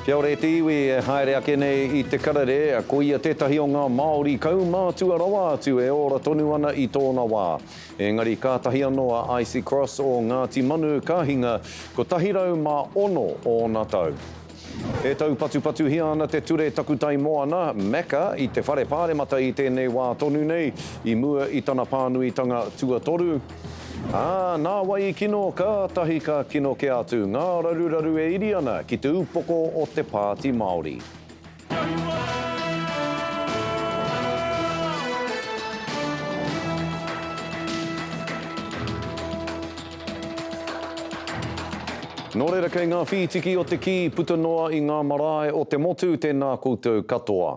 Kia ora e te iwi e haere ake nei i te karere, ko ia tētahi o ngā Māori kaumātua rawa atu e ora tonu ana i tōna wā. Engari kātahi anō a Icy Cross o Ngāti Manu ka hinga, 106 ōna tau. E taupatupatuhia ana te ture Takutai Moana, Macca, i te Whare Pāremata i tēnei wā tonu nei, i mua i tana pānuitanga tuatoru, Ā, nāwai i kino, kātahi ka kino kē atu ngā raruraru e iri ana ki te upoko o te Pāti Māori. Nō reira kei ngā whītiki o te kī puta noa i ngā marae o te motu tēnā koutou katoa.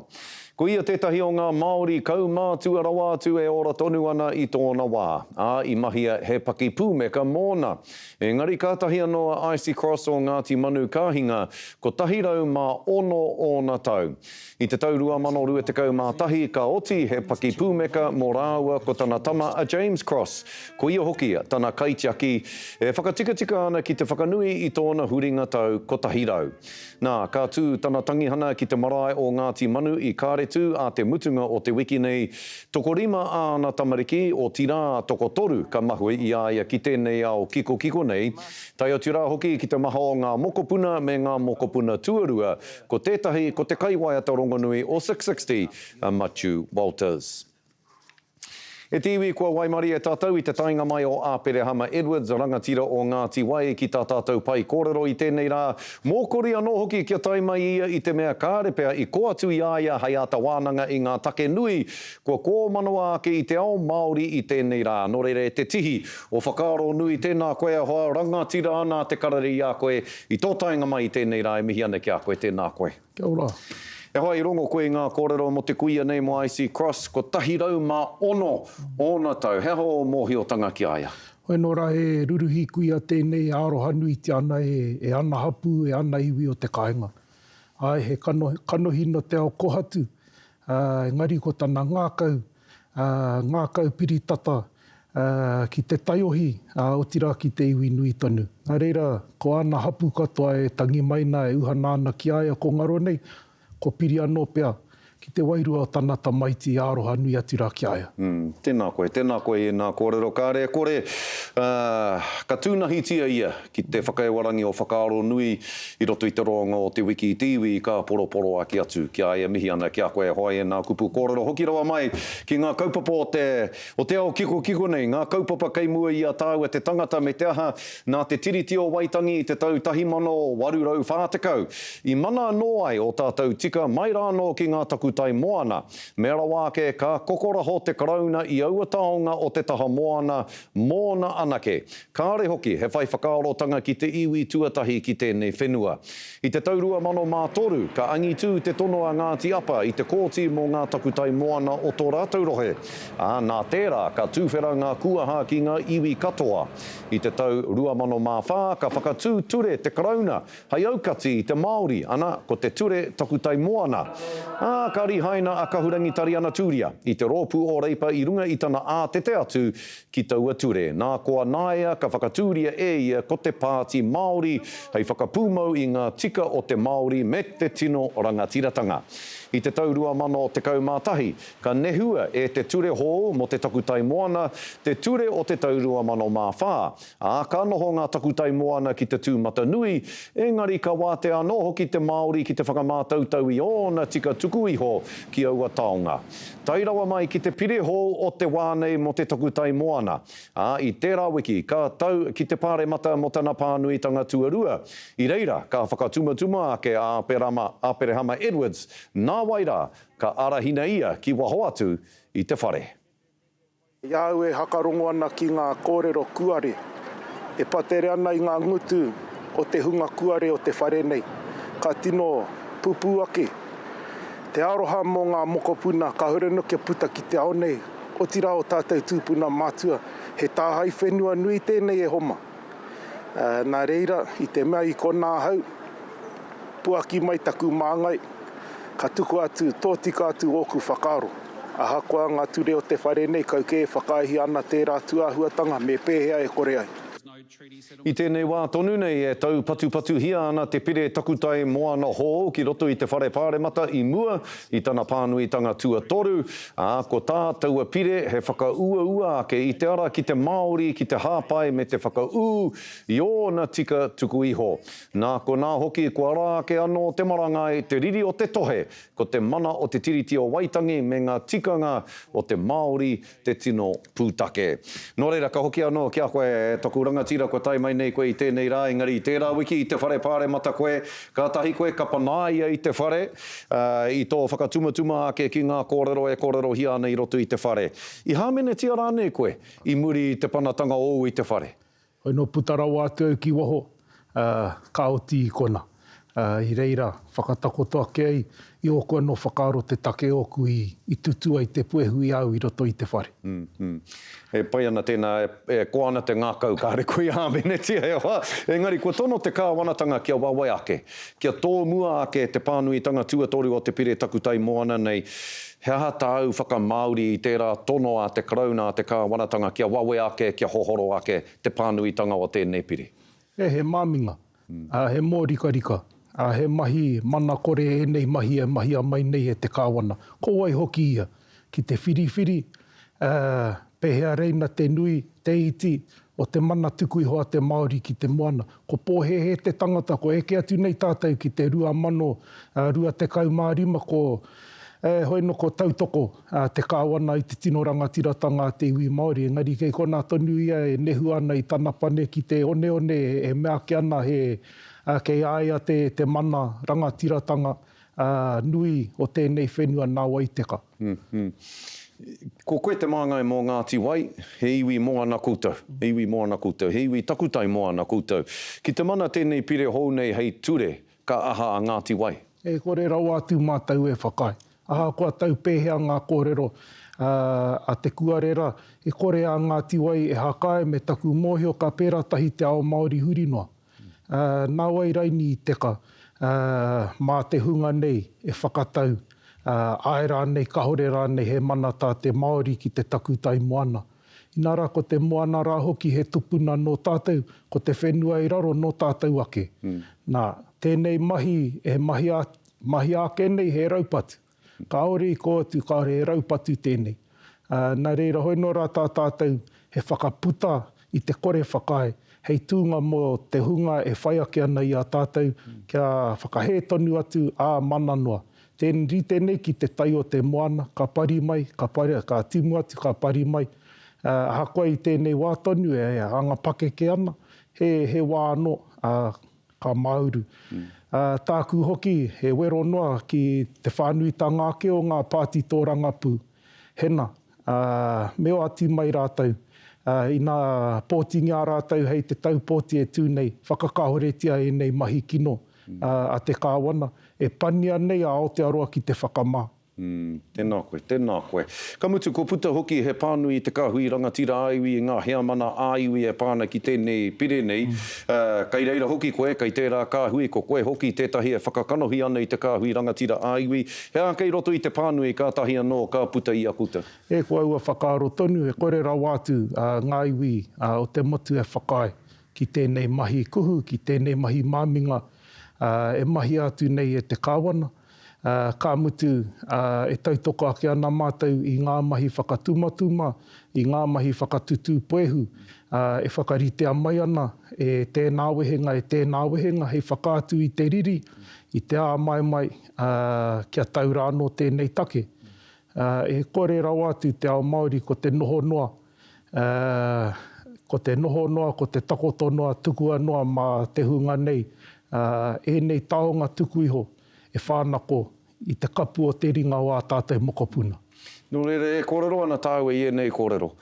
Ko ia tētahi o ngā Māori kaumātua rawa atu e ora tonu ana i tōna wā, ā, i mahia he paki pūmeka mōna. Engari kātahi anō a Icy Cross o Ngāti Manu ka hinga, 106 ōna tau. I te tau 2021 ka oti he paki pūmeka mō rāua ko tana tama a James Cross, ko ia hoki tana kaitiaki, e whakatikatika ana ki te whakanui i tōna huringa tau 100. Nā, ka tū tana tangihana ki te marae o Ngāti Manu i Kāretu ā te mutunga o te wiki nei. Tokorima āna tamariki, otirā, tokotoru ka mahue i a ia ki tēnei ao kikokiko nei, tae atu rā hoki ki te maha o ngā mokopuna me ngā mokopuna tuarua, ko tētahi ko te kaiwaiata rongonui o Six Sixty, a Matiu Walters. E te iwi kua waimarie tatou i te taenga mai o Aperehama Edwards, rangatira o Ngati Wai ki ta tatou pai korero i tenei ra, mokori ano hoki kia tae mai ia i te mea kare pea i ko atu i a ia hei ata wananga i nga take nui kua komanoa ake i te ao Maori i tenei ra. No reira e te tihi o whakaaro nui tena koe ahoa rangatira ana te karere i a koe i to taenga mai i tenei ra e mihi ana ki a koe tena koe. Kia ora. E hoa i rongo koe i ngā kōrero mō te kuia nei mō Icy Cross 106 ōna tau. He aha ō mōhiotanga ki a ia? Hoi nō ra he ruruhi kuia tēnei arohanuitia ana e ana hapū, e ana iwi o te kaenga. Ae, he kanohi no te ao kohatu, ā, engari ko tana ngākau, ā, ngākau piri tata, ā, ki te taiohi, ā, otirā ki te iwi nui tonu. Nā reira, ko āna hapū katoa e tangi mai nā, e uhana ana ki a ia ko ngaro nei, ko piri anō pea ki te wairua o tana tamaiti i aroha nui atu rā ki a ia. Ū, tēnā koe, tēnā koe i ēnā kōrero, kāre e kore, ā, ka tūnahitia ia Ki te whakaewarangi o Whakaaro Nui i roto i te roanga o Te Wiki i te iwi, ka poroporoa ake atu. Ki a ia, mihi ana ki a koe e hoe e nā kupu kōrero hoki rawa mai ki ngā kaupapa o te, o te ao kikokiko nei, ngā kaupapa kei mua i a tāua te tangata me te aha, nā te Tiriti o Waitangi i te tau 1840, i mana anō ai ō tātou tika mai rānō ki ngā takutai moana. Mea rawa ake, ka kokoraho te Karauna i aua taonga o te taha moana, Mōna anake. Kāre hoki he whai whakaarotanga ki te iwi tuatahi ki tēnei whenua. I te tau 2003, ka angitū te tono a Ngāti Apa i te kōti mō ngā takutai moana o tō rātou rohe, ā, nā tērā ka tūwhera ngā kūaha ki ngā iwi katoa. I te tau 2004, ka whakatū ture te Karauna Hei aukati i te Māori, ana, ko te ture takutai moana. Ā, ka rihaina a Kahurangi Tariana Tūria i te rōpū o Reipa i runga i tana ātete atu ki taua ture. Nā koa nāia ka whakatūria e ia ko te Pāti Māori hei whakapūmau i ngā tika o te Māori me te tino rangatiratanga. I te tau 2011, ka nehua e te ture hou mō te takutai moana te ture o te tau 2004, Ā, ka noho ngā takutai moana ki te tūmatanui, engari ka wātea anō hoki te Māori ki te whakamātautau i ōna tika tuku iho ki aua taonga. Tae rawa mai ki te pire hou o te wā nei mō te takutai moana, ā, i tērā wiki ka tau ki te Pāremata mō tana pānuitanga tuarua, i reira ka whakatumatuma ake a Aperama, Aperehama Edwards, nāwai rā, ka arahina ia ki waho atu i te whare. I a au e hakarongo ana ki ngā kōrero kuare e patere ana i ngā ngutu o te hunga kuare o te whare nei, ka tino pupū ake te aroha mō ngā mokopuna ka huri ana kia puta ki te ao nei, otirā o tātou tūpuna matua. He tāhae whenua nui tēnei e Homa. Nā reira, i te mea i konā ahau, puaki mai taku māngai, ka tukua atu, tōtika atu ōku whakaaro. Ahakoa ngā ture o te whare nei, kau kē e whakaaehia ana tērā atu āhuatanga, me pēhea e kore ai. I tēnei wā tonu nei e taupatupatuhia ana te pire takutai moana hou ki roto i te whare pāremata i mua i tana pānuitanga tuatoru, Ā, ko tā taua pire he whakauaua ake i te ara ki te Māori ki te hāpai me te whakaū i ōna tika tuku iho. Nā konā hoki kua ara ake anō te marangai, te riri o te tohe, ko te mana o te Tiriti o Waitangi me ngā tikanga o te Māori te tino Pūtake. Nō reira, ka hoki anō ki a koe taku rangatira kua tae mai nei koe i tēnei rā, engari i tērā wiki i te whare pāremata koe, kātahi koe ka panaia i te whare, ā, i tō whakatumatuma ake ki ngā kōrero e kōrerohia ana i roto i te whare. I hāmenetia rānei koe i muri i te panatanga ōu i te whare? Hoi nō puta rawa atu au ki waho, ā, ka oti i kona. Ā, i reira, whakatakoto ake ai, i ōku anō whakaaro te take ōku i tutū ai te puehu i a au i roto i te whare. E pai ana tēnā, e koa ana te ngākau, kāre koe i hāmenetia e hoa. Engari, kua tono te Kāwanatanga kia wawe ake, kia tōmua ake te pānuitanga tuatoru o te pire takutai moana nei, He aha tāu whakamāori i tērā tono a te Karauna, a te Kāwanatanga kia wawe ake, kia hohoro ake te pānuitanga o tēnei pire? E he māminga, ā, he mōrikarika, ā, he mahi mana kore ēnei mahi e mahia mai nei e te Kāwana, ko wai hoki ia, ki te whiriwhiri, Ā, pēhea reina te nui, te iti, o te mana tuku iho a te Māori ki te moana? Ko pōhēhē te tangata kua eke atu nei tātou ki te 2025, ko, heoi anō, ko tautoko te Kāwana i te tino rangatiratanga a te iwi Māori. Engari kei konā tonu ia e nehu ana i tana pane ki te oneone e mea ake ana he kei a ia te mana rangatiratanga Ā, nui o tēnei whenua nā wai teka. Ko koe te māngai mō Ngāti Wai, he iwi mō ana koutou, he iwi mō ana koutou, he iwi takutai mō ana koutou. Ki te mana tēnei pire hou nei hei ture, ka aha a Ngāti Wai? E kore rawa atu mātou e whakaae. Ahakoa tau pēhea ngā kōrero a Te Kuarera, e kore a Ngāti Wai e hakae me taku mōhio ka pērā tahi te ao Māori huri noa. Nāwai Raini i teka, mā te hunga nei e whakatau, āe rānei, kāore rānei he mana tā te Māori ki te takutai moana. Inā rā, ko te moana rā hoki he tupuna nō tātou, ko te whenua i raro nō tātou ake. Nā, tēnei mahi e mahia ake nei he raupatu. Kāore i kō atu, kāore he raupatu tēnei. Nā reira, hoi nō rā tā tātou he whakaputa i te kore whakaae hei tūnga mō te hunga e whai ake ana i a tātou kia whakahē tonu atu, ā, mana noa. Tēn, rite nei ki te tai o te moana, ka pari mai, ka pari, ka timu atu, ka pari mai. Ā, ahakoa i tēnei wā tonu e anga pakeke ana, he, he wā anō, ā, Ka māuru. Ā, tāku hoki he wero noa ki te whānuitanga ake o ngā pāti tōrangapū. Hena, ā, me oati mai rātou. Ā, ina pōtingia rātou hei te tau pōti e tū nei, whakakahoretia ēnei mahi kino a te Kāwana, e pania nei a Aotearoa ki te whakamā. Umm, tēnā koe, tēnā koe. Ka mutu kua puta hoki he pānui i te kāhui rangatira ā-iwi, i ngā heamana ā-iwi e pā ana ki tēnei pire nei. Kei reira hoki koe, kei tērā kāhui, ko koe hoki tētahi e whakakanohi ana i te kāhui rangatira ā-iwi. He aha kei roto i te pānui kātahi anō ka puta i a koutou? E ko aua whakaaro tonu, e kore rawa atu ngā iwi o te motu e whakaae ki tēnei mahi kuhu, ki tēnei mahi māminga e mahia atu nei e te Kāwana. ā, ka mutu, ā, e tautoko ake ana mātou i ngā mahi whakatumatuma, i ngā mahi whakatutū puehu, ā, e whakaritea mai ana e tēnā wehenga, e tēnā wehenga hei whakaatu i te riri, i te āmaimai, ā, kia tau rānō tēnei take. Ā, e kore rawa atu te ao Māori ko te noho noa, ā, ko te noho noa, ko te takoto noa, tukua noa mā te hunga nei, ā, ēnei taonga tuku iho e whānako i te kapu o te ringa o ā tātou mokopuna. Nō reira, e kōrero ana tāua i ēnei kōrero.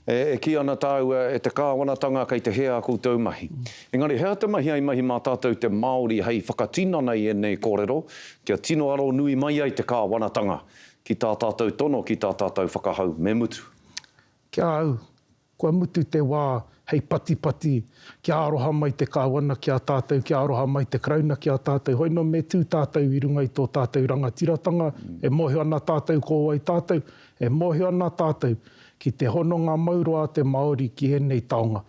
E, e kī ana tāua e te Kāwanatanga kei te hē ā koutou mahi. Engari he aha te mahi ai mahi mā tātou te Māori hei whakatinana i ēnei kōrero kia tino aro nui mai ai te Kāwanatanga? Ki tā tātou tono, ki tā tātou whakahau, me mutu. Ki a au, kua mutu te wā hei patipati, kia aroha mai te Kāwana ki a tātou, kia aroha mai te Karauna ki a tātou. Hoi nō me tū tātou i runga i tō tātou rangatiratanga, e mōhio ana tātou ko wai tātou, e mōhio ana tātou ki te hononga mauroa a te Māori ki ēnei taonga,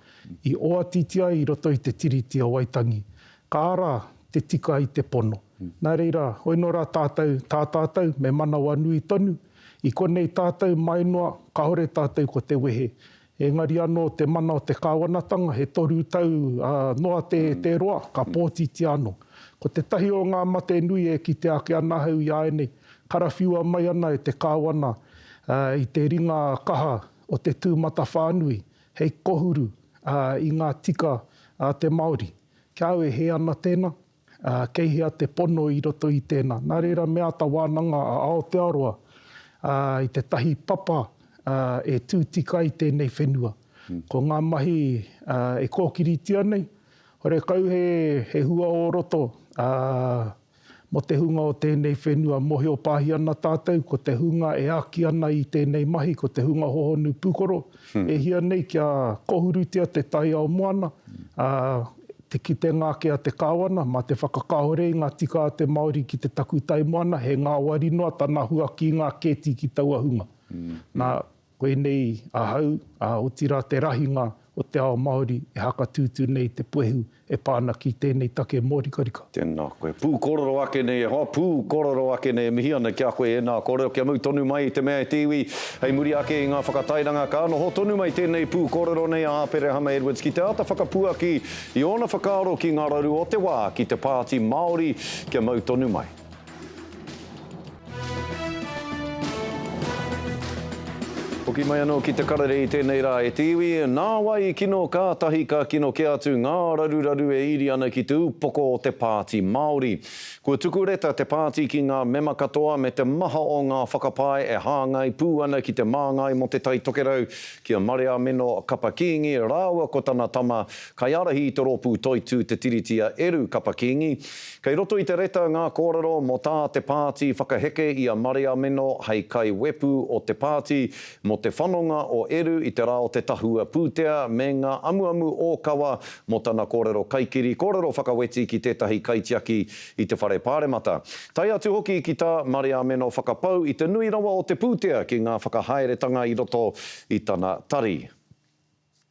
i oatiti ai i roto i te Tiriti o Waitangi. Ka ara te tika i te pono. Nā reira, hoi nō rā tātou, tā tātou, me manawanui tonu, i konei tātou, mai noa, kāore tātou ko te wehe. Engari anō te mana o te kāwanatanga, he toru tau noa te roa, ka pōtitia anō. Ko tētahi o ngā mate nui e kite ake ana ahau i āianei, karawhiua mai ana e te kāwana i te ringa kaha o te tūmatawhānui hei kohuru i ngā tika a te Māori. Kia au e hē ana tēnā, ā, kei hea te pono i roto i tēnā? Nā reira me āta wānanga a Aotearoa i tētahi papa e tū tika ai tēnei whenua. Ko ngā mahi e kōkiritia nei, horekau he hua o roto, ā, Mō te hunga o tēnei whenua mōhio pāhi ana tātou ko te hunga e āki ana i tēnei mahi ko te hunga hohonu pūkoro e hia nei kia kohurutia te taiao moana, ā, te kitenga ake a te Kāwana mā te whakakāhore i ngā tika a te Māori ki te takutai moana he ngāwari noa tana huakīngā kēti ki taua hunga. Nā. Koinei ahau, ā, otirā te rahinga o te ao Māori e hakatūtū nei te puehu e pā ana ki tēnei take mōrikarika. Tēnā koe. Pūkororo ake nei e hoa, pūkororo ake nei e mihi ana ki a koe e nā kua reo kia mau tonu mai i te mea e te iwi. Hei muri ake i ngā whakatairanga ka noho tonu mai tēnei pūkororo nei a Aperehama Edwards ki te āta whakapuaki i ōna whakaaro ki ngā raru o te wā ki te Pāti Māori kia mau tonu mai. Hoki mai anō ki te karere i tēnei rā e te iwi, nāwai i kino kātahi ka kino kē atu ngā raruraru e iri ana ki te upoko o te Pāti Māori. Kua tuku reta te pāti ki ngā mema katoa me te maha o ngā whakapae e hāngai pū ana ki te Māngai mō Te Tai Tokerau ki a Marea Mino Kapa Kīngi rāua ko tana tama kaiārahi i te rōpū toitū Te Tiriti a Eru Kapa Kīngi Kei roto i te reta ngā kōrero mō tā te pāti whakaheke i a Mariameno hei kaiwepu o te pāti mō te whanonga o Eru i te rā o te tahua pūtea me ngā amuamu ōkawa mō tana kōrero kaikiri, kōrero whakaweti ki tētahi kaitiaki i te whare pāremata. Tae atu hoki ki tā Mariameno whakapau i te nui rawa o te pūtea ki ngā whakahaeretanga i roto i tana tari.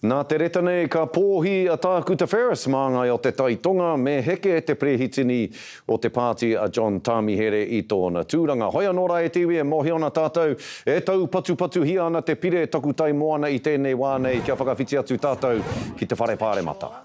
Nā te reta nei ka pōhi a Tākuta Ferris mā ngai o te Tai Tonga me heke te perehitini o te pāti a John Tāmihere i tōna tūranga. Hoi anō rā e te iwi e mōhio ana tātou e taupatupatuhia ana te pire takutai moana i tēnei wā nei kia whakawhiti atu tātou ki te whare pāremata.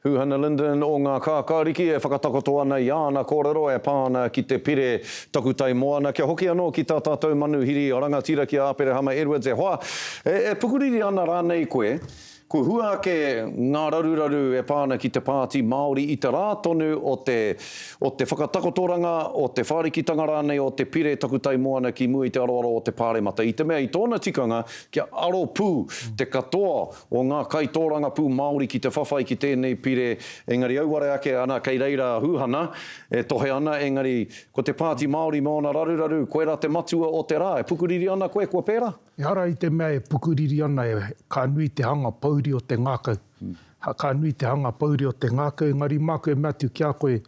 Huhana Linden o Ngā Kākāriki e whakatakoto ana i āna kōrero e pā ana ki te pire Takutai Moana kia hoki anō ki tā tātou manuhiri rangatira ki a Aperehama Edwards e hoa, e pukuriri ana rānei koe, kua hua ake ngā raruraru e pā ana ki te Pāti Māori i te rā tonu o te o te whakatakotoranga, o te whārikitanga rānei o te pire Takutai Moana ki mua i te aroaro o te Pāremata i te mea i tōna tikanga kia aro pū te katoa o ngā kaitōrangapū Māori ki te whawhai ki tēnei pire, engari auare ake ana kei reira a Hūhana e tohe ana, engari ko te Pāti Māori me ōna raruraru, koirā te matua o te rā, e pukuriri ana koe kua pērā? Ehara i te mea e pukuriri ana, ka nui te hanga pouri o te ngākau, ka nui te hanga pouri o te ngākau, engari māku e mea atu ki a koe,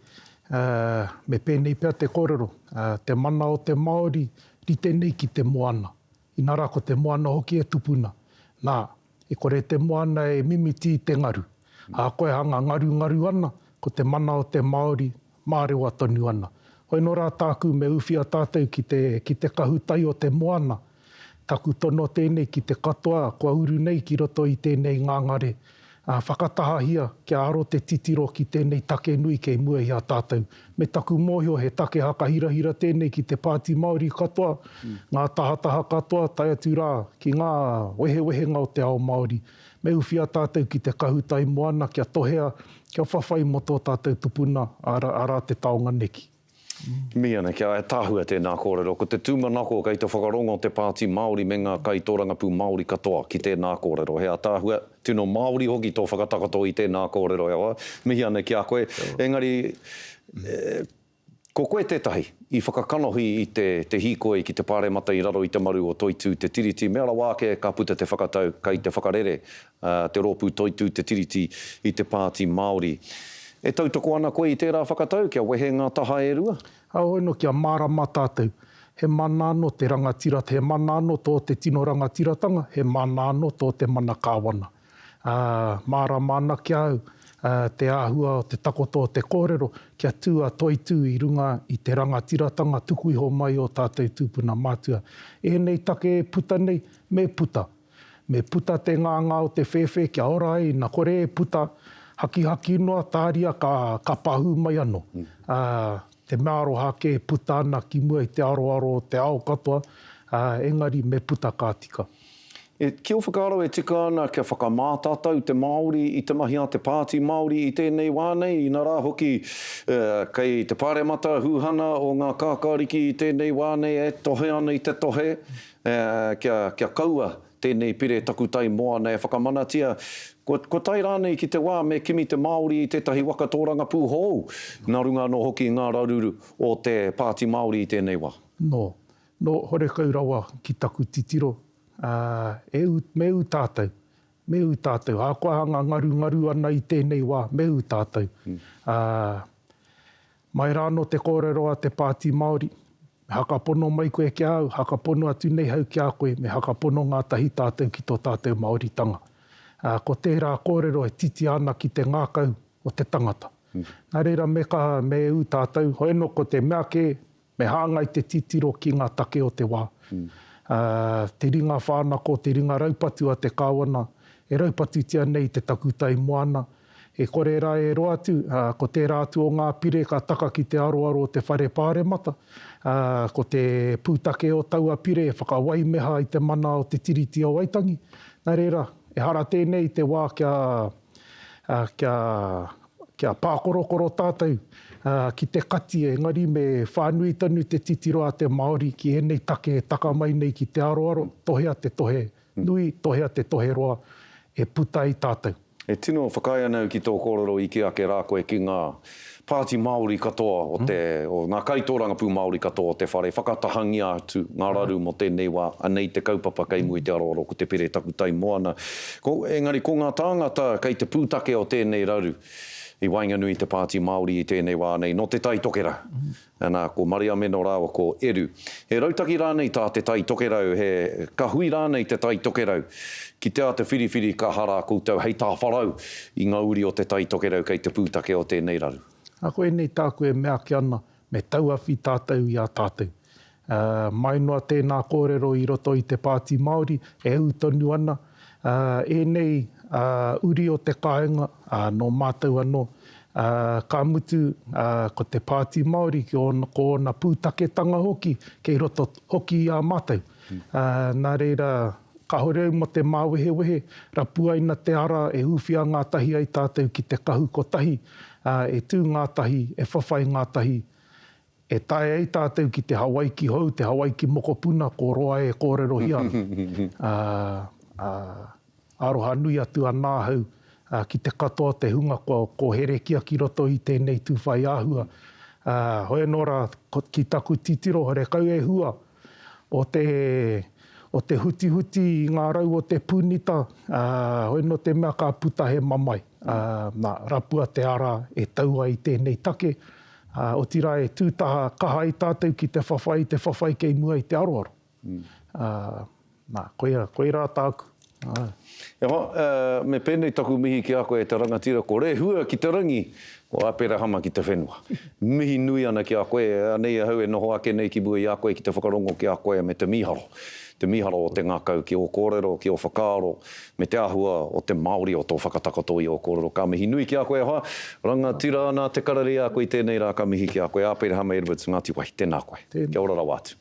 me pēnei pea te kōrero, te mana o te Māori rite nei ki te moana. Inā rā ko te moana hoki e tupuna. Nā, e kore te moana e mimiti i te ngaru. Ā, koe hanga ngarungaru ana, ko te mana o te Māori, mārewa tonu ana. Hoi nō rā tāku me uwhia tātou ki te, ki te kahu tai o te moana. Taku tono tēnei ki te katoa kua uru nei ki roto i tēnei ngangare Ā, whakatahahia kia aro te titiro ki tēnei take nui kei mua i a tātou. Me taku mōhio he take hakahirahira tēnei ki te Pāti Māori katoa, ngā tahataha katoa, tae atu rā ki ngā wehewehenga o te ao Māori. Me uwhia tātou ki te Kahu Tai Moana kia tohea, kia whawhai mō tō tātou tupuna, arā te taonga neki. Miana, kia ataahua tēnā kōrero, ko te tūmanako kei te whakarongo te Pāti Māori me ngā kaitōrangapū Māori katoa ki tēnā kōrero. He ataahua, tino Māori hoki tō whakatakoto i tēnā kōrero e hoa, mihi ana ki a koe. Engari, ko koe tētahi i whakakanohi i te te hīkoi ki te Pāremata i raro i te maru o Toitū Te Tiriti, mea rawa ake ka puta te whakatau kei te whakarere Te Rōpū Toitū Te Tiriti i te Pāti Māori. E tautoko ana koe i tērā whakatau kia wehe ngā taha e rua? Heoi anō, kia mārama tātou. He mana anō te rangatira, he mana anō tō te tino rangatiratanga, he mana anō tō te mana kāwana. Ā, mārama ana ki a au te āhua o te takoto o te kōrero kia tū a Toitū i runga i te rangatiratanga tuku iho mai o tātou tūpuna mātua. Ēnei take e puta nei, me puta! Me puta te nganga o te whēwhē kia ora ai, na kore e puta, hakihaki noa, tāria ka, ka pahū mai anō. Ā, te mea aroha ake e puta ana ki mua i te aroaro o te ao katoa, ā, engari me puta ka tika. E, ki ō whakaaro e tika ana kia whakamātatau te Māori i te mahi a te Pāti Māori i tēnei wā nei, inarā hoki, ā, kei te Pāremata hūhana o ngā kākāriki i tēnei wā nei e tohe ana i te tohe, Kia kaua tēnei pire takutai moana e whakamanatia, kua tae rānei ki te wā me kimi te Māori i tētahi waka tōrangapū hou, nā runga anō hoki i ngā raruru o te Pāti Māori i tēnei wā. Nō, nō horekau rawa ki taku titiro, ā, e ū, me ū tātou, me ū tātou, ahakoa hanga ngarungaru ana i tēnei wā, me ū tātou, ā, Mai rā anō te kōrero a te Pāti Māori, Me hakapono mai koe ki a au, hakapono atu nei hau ki a koe, me hakapono ngātahi tātou ki tō tātou Māoritanga. Ā, ko tērā kōrero e titia ana ki te ngākau o te tangata. Nā reira me kaha, me ū tātou, hoeno ko te mea kē, me hāngai te titiro ki ngā take o te wā. Ā, te ringa whānako, te ringa raupatu a te Kāwana, e raupatutia nei i te takutai moana, E kore ra e roa atu, ko tera atu o nga pire ka taka ki te aroaro o te Whare Paremata, ko te putake o taua pire e whakawaimeha i te mana o te Tiriti o Waitangi. Na rera, ehara tenei te wa kia, kia, kia pakorokoro tatou ki te kati engari me whanui tonu te titiro a te Maori ki enei take e taka mai nei ki te aroaro, tohea te tohe Nui, tohea te toheroa e puta i tātou. E tino whakaae ana au ki tō kōrero i kī ake rā koe ki ngā Pāti Māori katoa o te, o ngā kaitōrangapū Māori katoa o te whare, whakatahangia atu ngā raru mō tēnei wā, anei te kaupapa kei mua i te aroaro ko te pire taku tai moana. Ko, engari ko ngā tāngata kei te pūtake o tēnei raru i waenganui i te Pāti Māori i tēnei wā nei, nō Te Tai Tokerau. Nā, ko Mariamena rāua ko Eru. He rautaki rānei tā te Tai Tokerau, he kahui rānei te Tai Tokerau? Ki te āta whiriwhiri ka harā koutou hei tāwharau i ngā uri o te Tai Tokerau kei te pūtake o tēnei raru. Nā, koinei tāku e mea ake ana, me tauawhi tātou i a tātou. Ā, mai noa tēnā kōrero i roto i te Pāti Māori e ū tonu ana, Ēnei uri o te kāinga nō mātou anō, ka mutu ko te Pāti Māori ko ōna pūtaketanga hoki kei roto hoki i a mātou. Nā reira, kāore au mō te māwehewehe, rapuaina te ara e ūwhia ngātahi ai tātou ki te kahu kotahi, e tū ngātahi, e whawhai ngātahi, E taea ai tātou ki te Hawaiki hou, te Hawaiki mokopuna, ko roa e kōrerohia ana. Ā, ā, aroha nui atu ana ahau ki te katoa o te hunga kua kōherekia ki roto i tēnei tūwhai āhua. Ā, hoi anō rā, ki taku titiro, horekau e hua, o te, o te hutihuti i ngā rau o te pūnita, ā, hoi nō te mea ka puta he mamae, ā, nā, rapua te ara e tau ai tēnei take, ā, otirā e tū taha kaha ai tātou ki te whawhai, te whawhai kei mua i te aroaro. Ā. Na, koia, koirā tāku. E hoa, me pēnei taku mihi ki a koe e te rangatira, ko Rehua ki te rangi, ko Aperahama ki te whenua. Mihi nui ana ki a koe, anei ahau e noho ake nei ki mua i a koe ki te whakarongo ki a koe me te mīharo, te mīharo o te ngakau ki o kōrero, ki o whakaaro, me te ahua o te Māori o tō whakatakoto i o kōrero. Ka mihi nui ki a koe e hoa, rangatira, nā te karere i a koe i tēnei rā, ka mihi ki a koe, Aperahama Edwards, Ngāti Wai, tēnā koe. Kia ora rawa atu.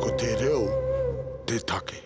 Ko te reo te take.